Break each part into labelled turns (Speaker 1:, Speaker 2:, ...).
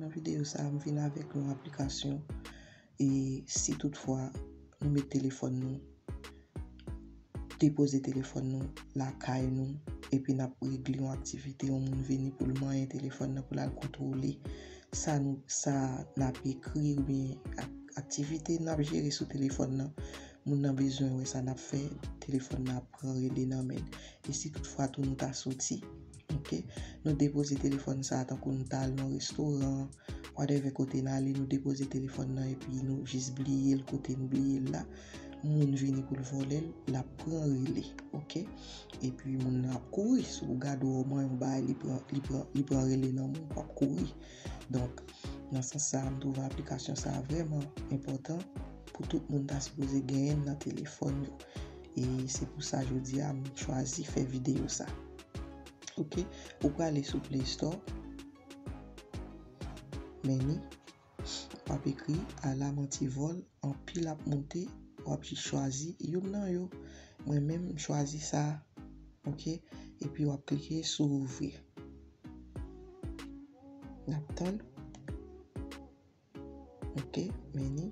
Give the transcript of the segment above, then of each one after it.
Speaker 1: Nan videyo sa a, m vin avèk yon aplikasyon e si tout fwa nou met telefòn nou, depoze telefòn nou lakay nou epi n ap regle yon aktivite, yon moun vini pou l manyen telefòn nan pou l al kontwole sa nou, sa n ap ekri oubyen aktivite n ap jere sou telefòn nan. Moun nan bezwen wè sa nap fè, telefòn nan ap pran rele nan men. E si tout fwa tou nou ta soti. Ok. Nou depoze telefòn sa a tankou nou ta al nan restoran, whatever kote n ale nou depoze telefòn nan epi nou jis bliye l kote nou bliye l la. Moun vini pou l vòlè l, lap pran rele. Ok. Epi moun nan ap kouri. Si w gad ou wè w man yon bagay li pran rele nan men w, wap kouri. Donk, nan sans sa a, m twouve aplikasyon sa a vrèman enpòtan pou tout moun ta sipoze genyen l nan telefòn yo. E se pou sa jodi a m chwazi fè videyo sa. Ok, ou prale sou Play Store, Menu, w ap ekri Alamantivol, anpil ap monte, w ap jis chwazi youn nan yo. Mwen menm, m chwazi sa a. Ok, epi w ap klike sou Ouvrir. Nap tann. Ok, meni.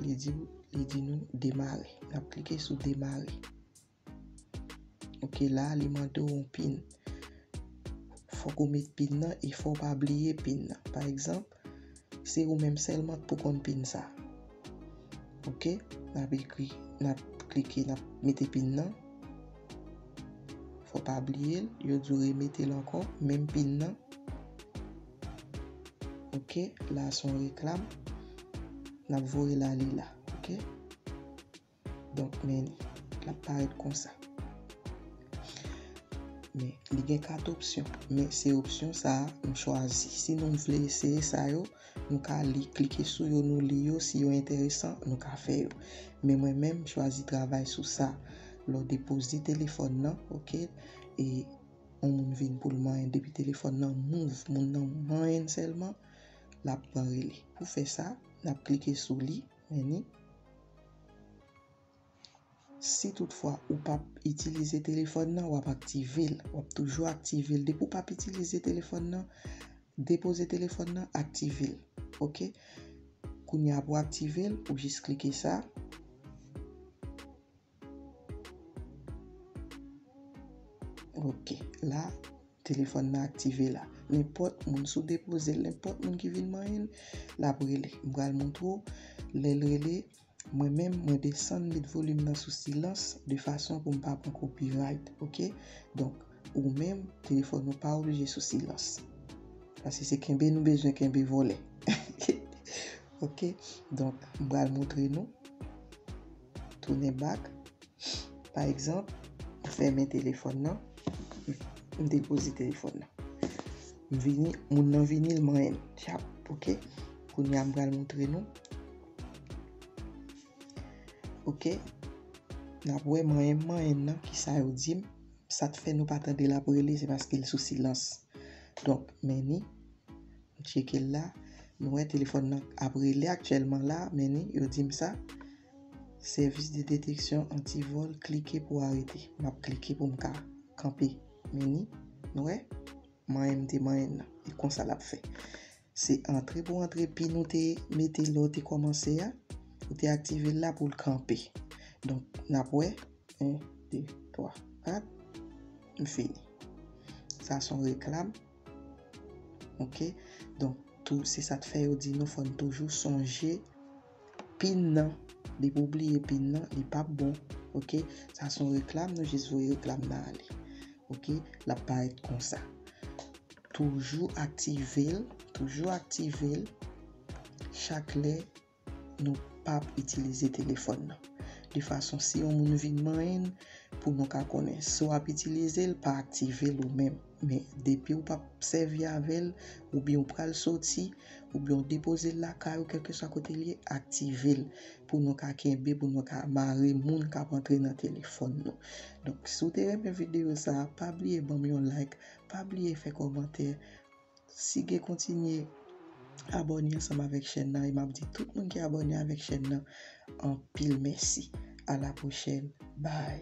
Speaker 1: Li di, li di nou demare. Nap klike sou demare. Ok, la li mande ou yon pin. Fok ou met pin nan e fok ou pa bliye pin nan. Pa egzanp, Se ou menm sèlman k pou konn pin sa. Ok, n ap ekri, n ap klike, n ap mete pin nan. Fò w pa bliye l, yo di w remete l ankò, menm pin nan. Ok, la se yon reklam. N ap voye l ale la. Ok. Donk men li. L ap parèt konsa. Men, li gen 4 opsyon. Men, se opsyon sa a nou chwazi. Si nou vle eseye sa yo, nou ka li, klike sou yo, nou li yo. Si yo enteresan, nou ka fè yo. Men mwen menm, m chwazi travay sou sa. Lè w depoze telefòn nan, ok, e yon moun vin pou l manyen. Depi telefòn nan move, moun nan manyen sèlman, l ap pran rele. Pou fè sa, n ap klike sou li. Men ni Si tout fwa ou pap itilize telefòn nan wap aktivel wap toujou aktivel depi ou pap itilize telefòn nan depoze telefòn nan aktivel ok kounya pou aktivel ou jis klike sa. Ok la Telefòn nan aktive la Nenpòt moun sou depoze l Nenpòt moun ki vin manyen l L ap rele M pral montre w Lè l rele Mwen menm mwen desann met volim nan sou silans De fason pou m pa pran copyright ok Donk ou menm telefòn ou pa oblije sou silans Pase se kenbe nou bezwen kenbe vole Ok donk m pral montre nou. tounen bak. Pa egzanp, m fèmen telefòn nan, m depoze telefòn nan. M vini, moun nan vini, l manyen m. Tchap, ok. Kounye a m pral montre nou. Ok. N ap wè manyen m manyen m nan, ki sa yo di m. Sa k fè nou pa tande l ap rele, se paske l sou silans. Donk, men ni. M tcheke l la, m wè telefòn nan ap rele aktyèlman la, men ni yo di m sa. Sèvis de deteksyon antivòl klike pou arete. M ap klike pou m ka kanpe. Men ni, nou wè, manyen m te manyen nan. E konsa l ap fè. Se antre pou antre pin ou te mete lè w te kòmanse a, ou te aktive l la pou l kanpe. Donk, n ap wè, 1, 2, 3, 4, m fini. Sa s on reklam. Ok, donk tou se sa k fè yo di nou fò n toujou sonje pin nan. Depi w bliye pin nan, li p ap bon. Ok, sa s on reklam, nou jis voye reklam nan ale. Ok, l ap parèt konsa. Toujou aktive l, toujou aktive l chak lè Nou pap itilize telefòn nan. De fason si yon moun vin manyen n, pou nou ka konnen. Si w ap itilize l, pa aktive l ou menm. Men, depi ou p ap sèvi avè l, oubyen ou pral soti, oubyen ou depoze l lakay ou kèlkeswa kote l ye, aktive l. Pou nou ka kenbe, pou nou ka mare moun k ap antre nan telefòn nou. Donk, si w te renmen videyo sa a, pa bliye ban m yon like, pa bliye fè kòmantè. Sigue kontinye abòne ansanm avèk chèn nan e map di tout moun ki abòne avèk chèn nan anpil mèsi a la pwochèn bye.